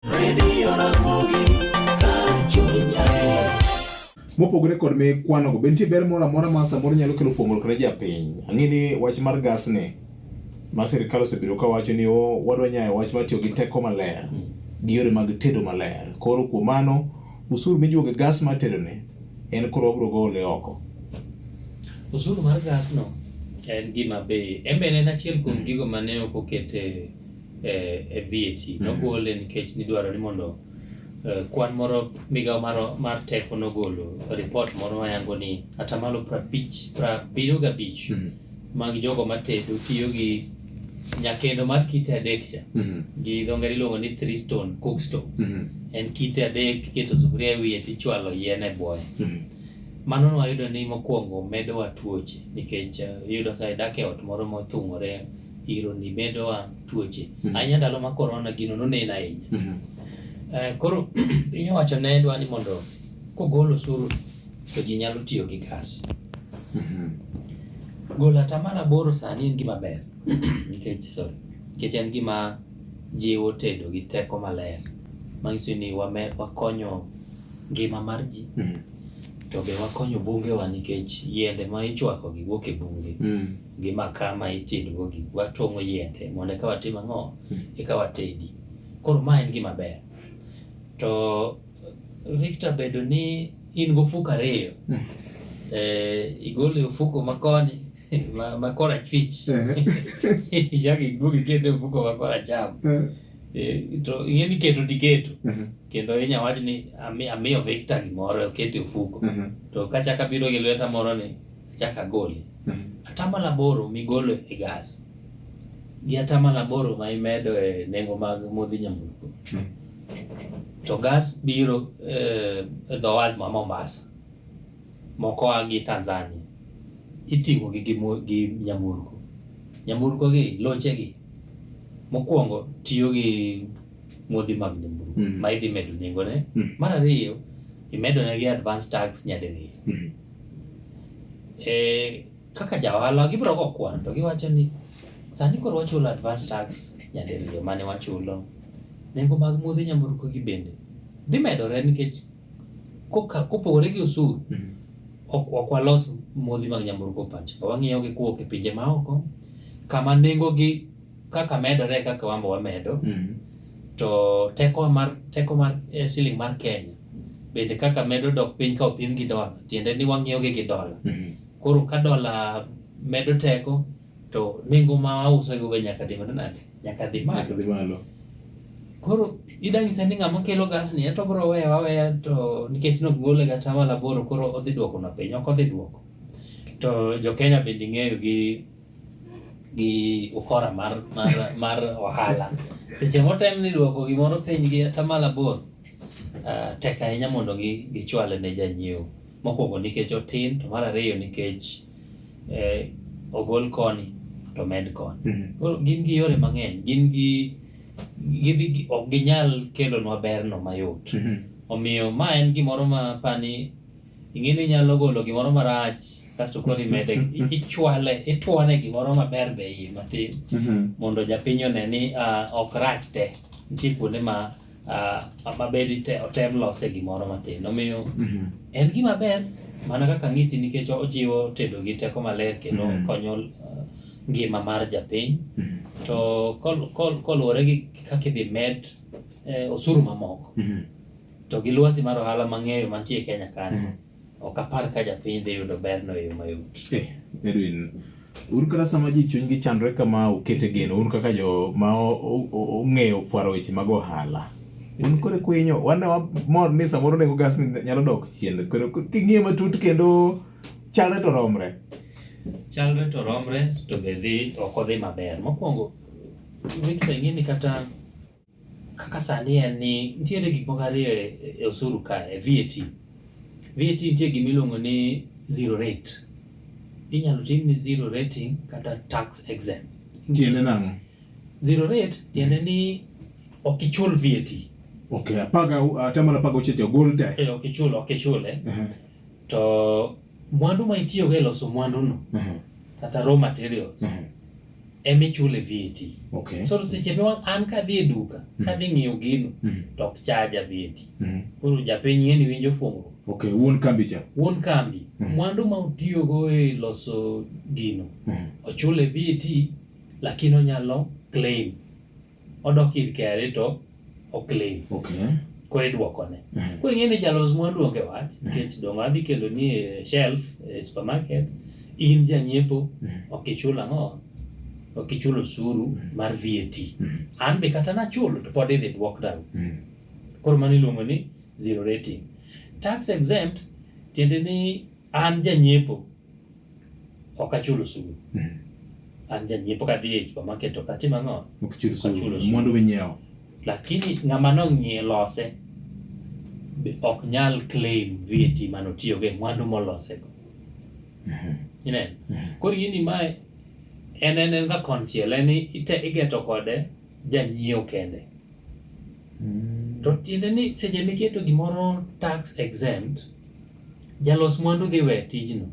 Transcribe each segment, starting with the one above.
Radio Ramogi, kar chuny adier. mopogore kod mikwano go be nitie ber moro amora ma samoro nyalo kelo fuong'ruok ne japiny ang'e ni wach mar gas ni ma sirikal osebedo ka wacho ni o wadwa nyayo wach mar tiyo gi teko maler gi yore mag tedo maler koro kuom mano usuru mijuogo e gas mar tedo ni en koro wabiro gole oko Osuru mar gasno en gima be en be en achiel kuom gigo mane ok okete e VAT mm. nogole nikech nidwaro ni mondo eh, kwan moro migawo mar, mar teko nogolo ripot moro mayango ni atamalo prabich prabiriyo gabich mm. mag jogo matedo tiyo gi nyakendo mar kite adek cha mm -hmm. gi dho ngere iluongo ni three stone cook stove mm -hmm. en kite adek iketo sufuria e wiye tichwalo yien e bwoye mm -hmm. mano nwayudo ni mokwongo medowa tuoche nikech uh, iyudo ka idak e ot moro mothung'ore ironi medowa tuoche mm -hmm. ahinya ndalo ma korona gino nonen ahinya mm -hmm. uh, koro piny owacho ne dwa ni mondo kogol osuru to ji nyalo tiyo gi gas mm -hmm. golo atamalo aboro sani en gima ber nikech sorry nikech en gima jiwo tedo gi teko maler manyiso ni wame, wakonyo ngima mar ji mm -hmm. to be wakonyo bungewa nikech yiende ma ichwakogi wuok e bunge mm -hmm. gi makaa ma itedogo gi watong'o yiende mondo eka watim ang'o eka watedi koro ma en gima ber to Victor bedo ni in gofuko ariyo hmm. eh, igolo e ofuko makoni makora chwich ichak iduog iketo e ofuko makora cham eh. Eh, to ing'e ni keto tiketo hmm. kendo inya wach ni amiyo Victor gimoro oket e ofuko hmm. to kachaka biro gi lweta moro ni achak agoli. Mm. Atamalo aboro migolo e gas gi atamalo aboro ma imedo e nengo mag modhi nyamburko mm. to gas biro eh, e dho wath ma Mombasa moko a gi Tanzania iting'o gi gi nyamburko nyamburko gi loche gi mokwongo tiyo gi modhi mag nyamburko mm. ma idhi medo nengone mm. mar ariyo imedonegi advance tax nyadiriyo mm. eh, kaka jaohala gibiro go kwan to giwacho ni sani koro wachulo advance tax nyadiriyo mane wachulo nengo mag muodhe nyamburko gi bende dhi medore nikech koka- kopogore gi osuru Mm. ok ok walos modhi mag nyamburko pacho wang'iewo gi kowuok e pinje maoko kama nengogi Kaka medore kaka wambo wamedo mm. to teko mar teko mar eh, siling mar Kenya bende kaka medo dok piny ka opim gi dola, tiende ni wang'iyo gi dola. Mm -hmm. Koro ka dola medo teko to nengo ma auso go be nyaka dhi nade? Nyaka dhi malo. Nyaka dhi malo. Koro ida nyisa ni ng'ama kelo gas ni to bro weya waweya to nikech nok gole ga tama laboro koro odhi duoko na piny, ok odhi duoko. To jo Kenya bende ng'eyo gi gi ukora mar, mar, mar ohala seche motem ni dwoko gimoro piny gi atamalo aboro uh, tek ahinya mondo gichwale ne janyiewo mokwongo nikech otin to mar ariyo nikech eh, ogol koni to med koni mm -hmm. koro gin gi yore mang'eny gin gi gidhi ok ginyal kelonwa berno mayot mm -hmm. omiyo ma en gimoro ma pani ing'e ni inyalo golo gimoro marach kasto koro imede ichwale itwane gimoro maber be iye matin mhm. mondo japiny one ni ah, ok rach te nitie kuonde ma ah, mabedi otem lose gimoro matin omiyo mhm. en gima ber mana kaka ng'isi nikech ojiwo tedo gi teko maler kendo mhm. konyo ah, ngima mar japiny to koluwore gi kaka idhi med eh, osuru mamoko to gi lwasi mar ohala mang'eyo mantie Kenya kanyo Ok apar ka japiny dhi yudo berno e yo mayot. Eh, Edwin, un kata sama ji chunygi chandore kama ukete geno, un kaka jo ma o- o- o- ong'eyo fwaro weche mag ohala. Un kore kwinyo, wan ne wamor ni samoro nengo gas ni nyalo dok chien. Koro k- king'iye matut kendo chalre to romre. Chalre to romre to be dhi ok odhi maber. Mokwongo, wekita ing'e ni kata Kaka sani en ni nitiere gik moko ariyo e, e osuru ka e VAT. VAT nitie gima iluongo ni zero rate. Inyalo tim ni zero rating kata tax exempt. Tiende nang'o? Zero rate tiende ni ok ichul VAT. Okay, apaga atamana apaga ocheche ogol te. Eh, ok ichul, ok ichule. Uh -huh. To Mwandu ma itiyogo e loso mwanduno mhm. kata raw materials mhm. ema ichule VAT. Okay. So seche ma an kadhi e duka mhm. kadhi ng'iewo gino to ok chaja VAT. Koro japiny ng'eni winjo fuong'ruok. Okay, wuon kambi cha. Wuon kambi. Mwandu ma utiyogo e loso gino ochule VAT lakini onyalo claim Odok ir KRA to oklaim. Okay. Koro idwokone. Mm -hmm. Koro ing'e ni jalos mwandu onge wach mhm. nikech mm -hmm. dongo adhi kelo ni e shelf e supermarket in janyiepo mm -hmm. ok ichul ang'o ok ichul osuru mm -hmm. mar VAT. Mm -hmm. An be kata nachulo to pod idhi dwok down. Mm -hmm. Koro mano iluongo ni zero rating. Tax exempt tiende ni an janyiepo Ok achul osuru. Mm. An janyiepo kadhi e supermarket ok atim ang'o? Ok achul osuru. Mwandu minyiewo. Lakini ng'ama nong'ie lose ok nyal claim VAT mane otiyogo e mwandu molosego. Mm-hmm. Ineno? Mm-hmm. Koro gini mae en en en ka konchiel en igeto kode janyiewo kende. Mm. To tiende ni seche miketo gimoro tax exempt, jalos mwandu dhi we tijno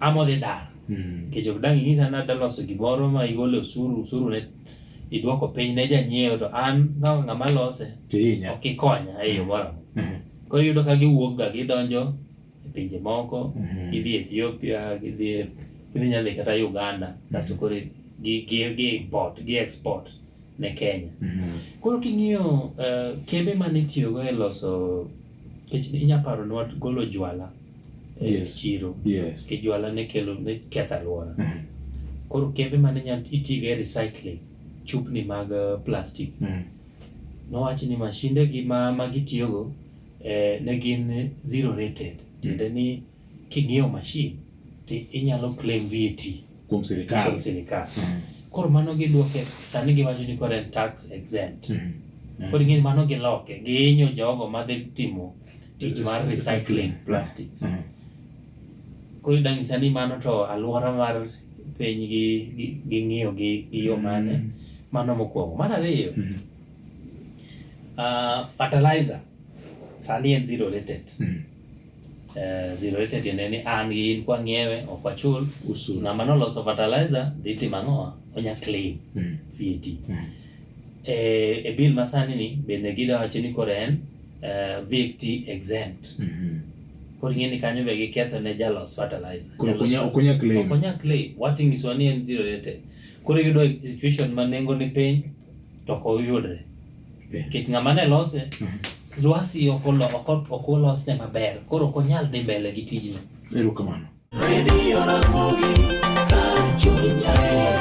ama odhi dar mm. nikech ok dang' inyisa ni adaloso gimoro ma igolo osuru osuru ne idwoko piny ne janyiewo to an kaka ng'ama lose ok ikonya e yo moro amora. Mm-hmm. Koro iyudo ka giwuokga gidonjo e pinje moko mm-hmm. gidhi Ethiopia gidhi gidhi nyalo dhi kata Uganda mm-hmm. kasto koro gi gi gi import gi export ne Kenya mm-hmm. koro king'iyo uh, kembe mane itiyogo e loso kech inya paro ni golo jwala e yes. chiro yes. ke jwala ne kelo ne ketho alwora koro kembe mane nya itigo e recycling chupni mag uh, plastic mm. nowachi ni mashinde gi ma, ma gitiyogo eh, ne gin zero rated tiende ni king'iewo mashin to inyalo claim VAT kuom sirikal kuom sirikal mm. koro mano gidwoke sani giwacho ni koro en tax exempt mm. mm. koro ing'eni mano giloke gihinyo jogo madhi timo tich mar recycling plastics mm. koro idang'isa ni mano to alwora mar piny gi ng'iyo gi yo mane mm. mano mokwongo mar ariyo mm. Uh, fertilizer sani en zero rated mm -hmm. Eh, zero rated tiende ni an gi in kwa ng'iewe ok wachul usuru. Ng'ama noloso fertilizer dhi timo ang'o? Onya claim mm. VAT. Mm. E, e bill masani ni bende gida wacho ni koro en uh, eh, VAT exempt. Mm -hmm. Koro ing'e ni kanyo be giketho ne jalos fertilizer. Koro okonya okonya claim. Okonya claim. Wating'iswa ni en zero rated. Koro yudo situation ma nengo ni piny to ok oyudre nikech ng'ama ne lose lwasi ok olo- ok ot- ok olosne maber koro ok onyal dhi mbele gi tijno Erokamano. Radio Ramogi, kar chuny adier.